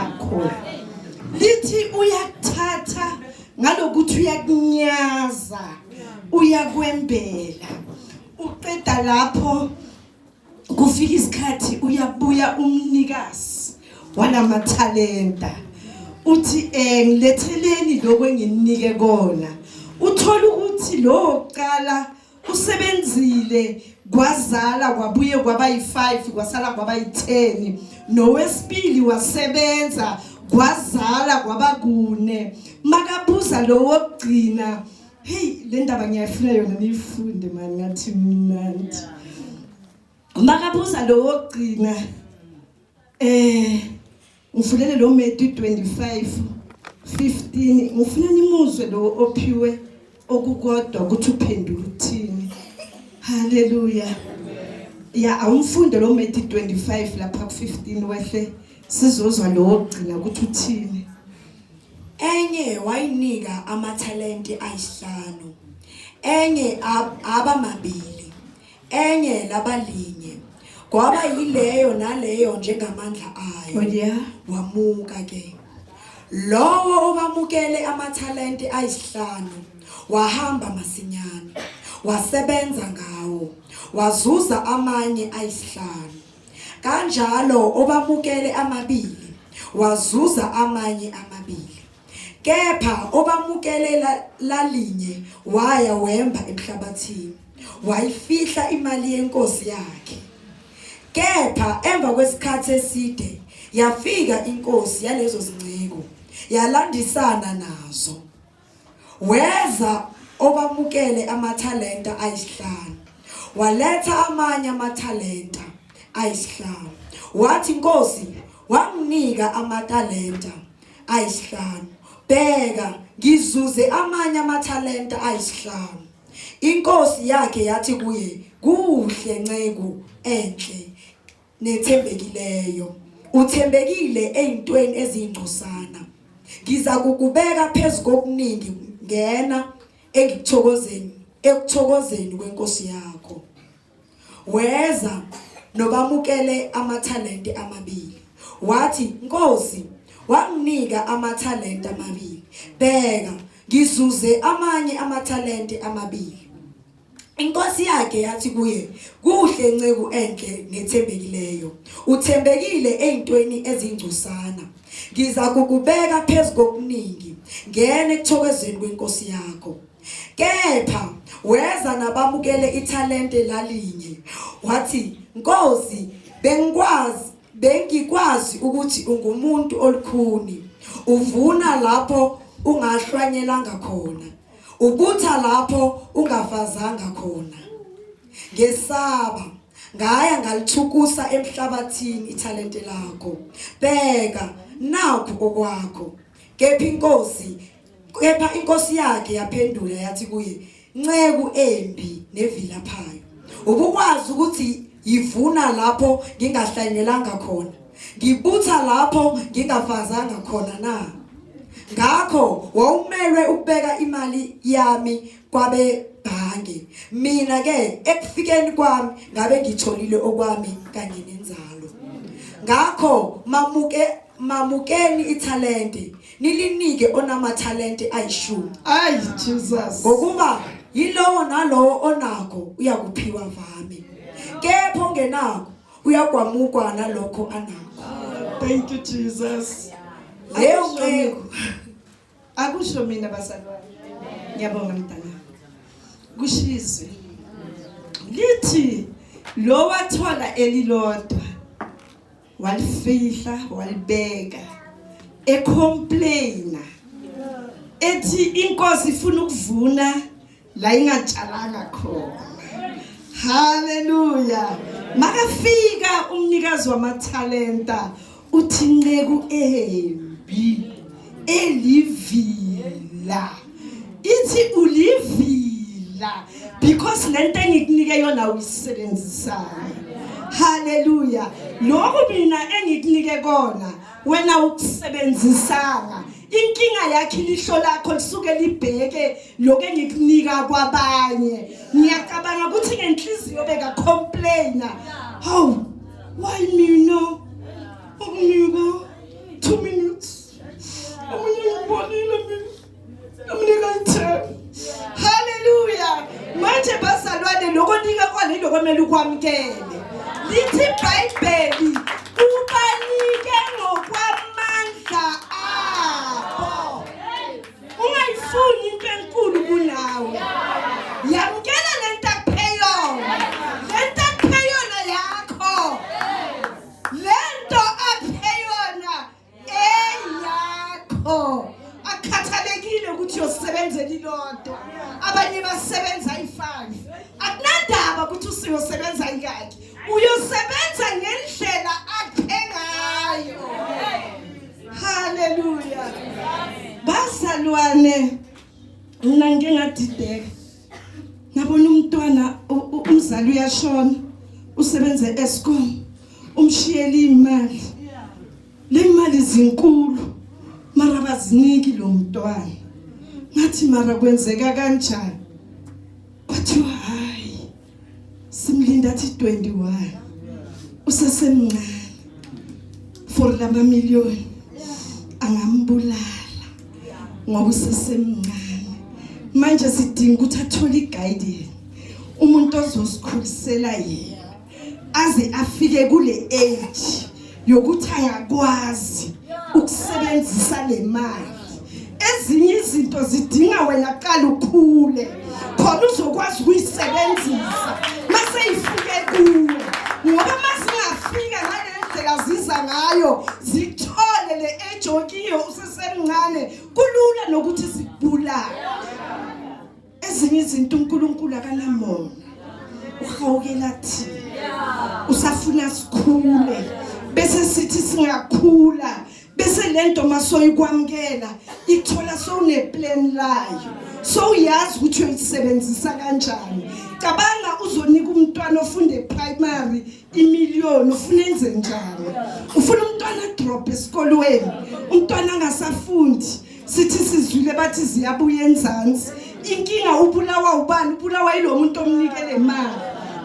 akho lithi uyakuthatha ngalokuthi uyakunyaza uyakwembela uqeda lapho kufika isikhathi uyabuya umnikazi walamathalenta uthi eh ngiletheleni lokho enginike kona uthola ukuthi lo qala usebenzile kwazala kwabuye kwaba yi-5 kwasala kwaba yi-10 nowesibili wasebenza kwazala kwaba kune makabuza lo wokugcina heyi le ndaba ngiyayifuna yona niyifunde mani ngathi mnandi makabuza lo wokugcina um eh, Ngifulele lo Matthew 25 15 ngifuna nimuzwe lo ophiwe okukodwa ukuthi uphendula ukuthini. Haleluya. Ya awumfunde lo Matthew 25 lapha ku15 wehle sizozwa lo ogcina ukuthi uthini. Enye wayinika amathalente ayisihlanu. Enye abamabili. Enye laba linye. Kwaba yileyo naleyo njengamandla ayo. Oh yeah. Wamuka ke. Lowo obamukele amathalente ayisihlanu wahamba masinyane. Wasebenza ngawo. Wazuza amanye ayisihlanu. Kanjalo obamukele amabili wazuza amanye amabili. Kepha obamukele la- lalinye waya wemba emhlabathini, wayifihla imali yenkosi yakhe. Kepha emva kwesikhathi eside yafika inkosi yalezo zinceku, yalandisana nazo. Weza obamukele amathalenta ayisihlanu, waletha amanye amathalenta ayisihlanu. Wathi, Nkosi, wanginika amatalenta ayisihlanu. Bheka, ngizuze amanye amathalenta ayisihlanu. Inkosi yakhe yathi kuye, Kuhle nceku enhle nethembekileyo. Uthembekile ezintweni ezingcosana. Ngiza kukubeka phezu kokuningi ngena engikuthokozeni ekuthokozeni kwenkosi yakho. weza nobamukele amathalente amabili wathi nkosi wanginika amathalente amabili bheka ngizuze amanye amathalente amabili Inkosi yakhe yathi kuye kuhle nceku enhle nethembekileyo uthembekile ezintweni ezingcosana ngiza kukubeka phezulu kokuningi ngene ekuthokozeni kwenkosi yakho Kepha weza nabamukele ithalente lalinye. Wathi, "Nkosi, bengikwazi bengikwazi ukuthi ungumuntu olukhuni. Uvuna lapho ungahlwanyelanga khona. Ubutha lapho ungafazanga khona." Ngesaba ngaya ngalithukusa emhlabathini ithalente lakho. Bheka, nakho okwakho. Kepha inkosi Kepha inkosi yakhe yaphendula yathi kuye, "Nceku embi nevilaphayo. Ubukwazi ukuthi yivuna lapho ngingahlanyelanga khona, ngibutha lapho ngingafazanga khona na? Ngakho wawumelwe ukubeka imali yami kwabe bhange. Mina ke ekufikeni kwami ngabe ngitholile okwami kanye nenzalo. Ngakho mamuke mamukeni ithalente Nilinike onamathalente ayishumi. Ay Jesus. Ngokuba yilowo nalowo onakho uyakuphiwa vami. Kepha ongenakho uyakwamukwa nalokho anakho. Thank you Jesus. Leyo nceku akusho mina bazalwane. Ngiyabonga mntana. Kushizwe. Lithi lo wathola elilodwa walifihla walibeka ecomplaina ethi inkosi ifuna ukuvuna la ingatshalanga khona haleluya makafika umnikazi wamathalenta uthi nceku embi elivila ithi ulivila because lento engikunike yona uyisebenzisayo haleluya lokhu mina engikunike kona wena ukusebenzisanga inkinga yakhe ilihlo lakho lisuke libheke lokho engikunika kwabanye ngiyacabanga ukuthi ngenhliziyo beka complaina how why mina ukuniko 2 minutes omunye ngibonile mina amnika ithemba haleluya manje bazalwane lokho nika kwani lokho kumele ukwamkele lithi ibhayibheli ubanike ngokwamandla abo ungayifuni into enkulu kunawe yamkela le nto akupeyona le nto akupeyona yakho le nto akupeyona eyakho akukhathalekile ukuthi uyosebenzela ilodwa abanye basebenza ifayo akunandaba ukuthi usiyosebenza ikakhe uyosebenza ngendlela akhe ngayo haleluya bazalwane mina ngike ngadideka ngabona umntwana umzali uyashona usebenze escom umshiyele imali le mali zinkulu mara baziniki lo mntwana ngathi mara kwenzeka kanjani kwathiwa hayi simlinda athi 21 usesemncane for lama million angambulala ngoba usesemncane manje sidinga ukuthi athole iguidance umuntu ozosikhulisela yena aze afike kule age yokuthi ayakwazi ukusebenzisa le mali ezinye izinto zidinga wena qala ukhule khona uzokwazi ukuyisebenzisa mase ifike kuwe ngoba masingafika ngale ndlela ziza ngayo zithole le ejokiyo usesemncane kulula nokuthi zibulale ezinye izinto uNkulunkulu akanamona uhawukela thina usafuna sikhule bese sithi singakhula bese lento masoyikwamkela ithola sowune plan layo sowuyazi ukuthi uyisebenzisa kanjani cabanga uzonika umntwana ofunde primary imillion ufuna enze njani ufuna umntwana drop esikolweni umntwana angasafundi sithi sizwile bathi ziyabuya enzansi inkinga ubulawa ubani ubulawa yilo muntu omnike le mali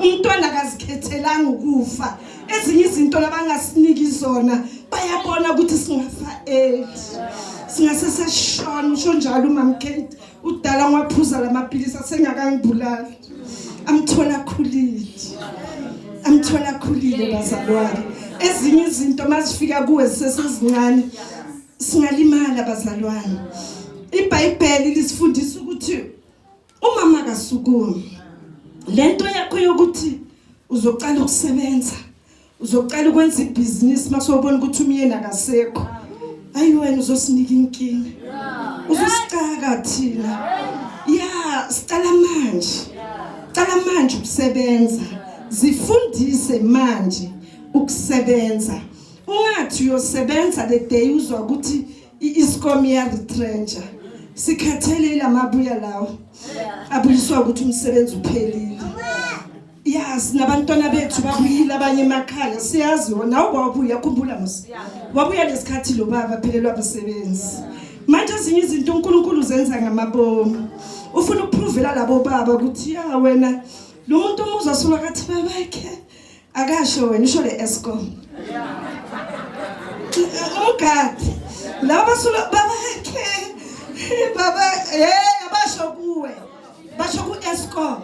umntwana akazikhethelanga ukufa ezinye izinto labangasiniki zona bayabona ukuthi singafa eli singase seshona usho njalo umam Kate udala ngwaphuza lamaphilisi asengakangibulali amthola khulile amthola khulile bazalwane ezinye izinto mazifika kuwe sesezincane singalimala bazalwane ibhayibheli lisifundisa ukuthi umama kasukumi lento yakho yokuthi uzoqala ukusebenza uzoqala ukwenza ibhizinisi masewubona ukuthi umyeni akasekho ayi wena uzosinika inkinga uzosicaka thina ya sicala manje cala manje ukusebenza zifundise manje ukusebenza ungathi uyosebenza le day uzwa ukuthi i-iscom iyaretrentsha sikhathele ilamabuya lawo abuyiswa ukuthi umsebenzi uphelile yazi nabantwana bethu babuyile abanye emakhaya siyazi wona wabuya khumbula mos wabuya lesikhathi lo baba phelelwa abasebenzi manje ezinye izinto unkulunkulu zenza ngamabomu ufuna ukuphuvela labo baba ukuthi ya wena lo muntu omuza solwa kathi babakhe Akasho wena usho le Eskom. Umgadi laba sulo babakhe baba hey abasho kuwe basho ku Eskom.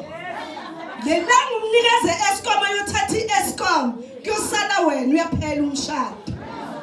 Yena ngumnikaze Eskom ayothatha iEskom kuyosala wena uyaphela umshado.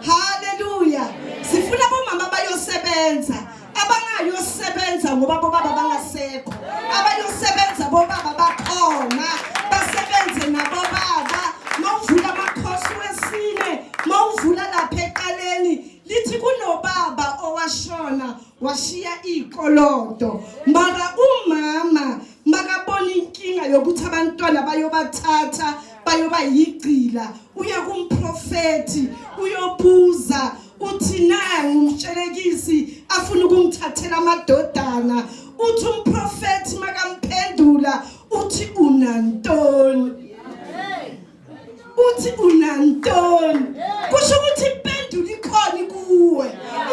Hallelujah. Sifuna bomama bayosebenza. abangayosebenza ngoba bobaba bangasekho abayosebenza bobaba bakhona basebenze nabobaba mawuvula amakhosi wesine mawuvula lapha eqaleni lithi kunobaba owashona washiya ikolonto mara umama makabona inkinga yokuthi abantwana bayobathatha bayoba yigcila uya kumprofethi uyobuza uthi nangu umtshelekisi afuna ukungithathela amadodana uthi umprofethi makamphendula uthi unantoni uthi unantoni kusho ukuthi impendulo ikhona kuwe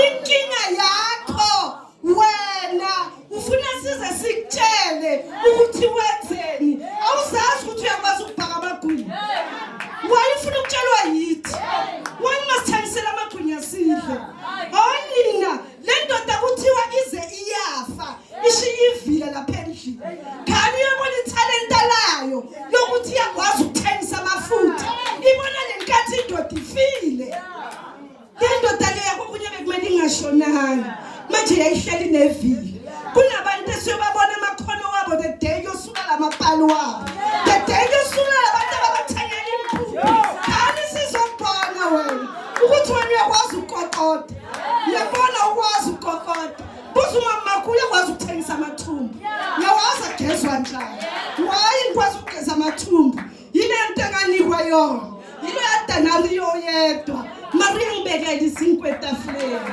inkinga yakho wena ufuna size sikutshele ukuthi wenzeni awuzazi ukuthi uyakwazi ukubhaka amagwinya wayefuna ukutshelwa yithi wena masithengisela amagwinya sidle onina oh, le ndoda kuthiwa ize iyafa ishiye ivila lapha endlini khani uyobona ithalenta layo lokuthi iyakwazi ukuthengisa amafutha ibona le nkathi indoda ifile Lendoda leya kokunye bekumele ingashonanga. Manje yayihleli nevili. Kunabantu esiyobabona amakhono wabo the day yosuka lamapali wabo. The day yosuka labantu ababathanyela impuku. Kani sizobhona wena ukuthi wena uyakwazi ukukokota. Uyabona ukwazi ukukokota. Buza umama wakho uyakwazi ukuthengisa amathumbu. Uyawazi agezwa njani. Why ngikwazi ukugeza amathumbu? yile nto ekanikwa yona yilo yadanariyo yedwa mariya ngibekele izinkwa etafuleni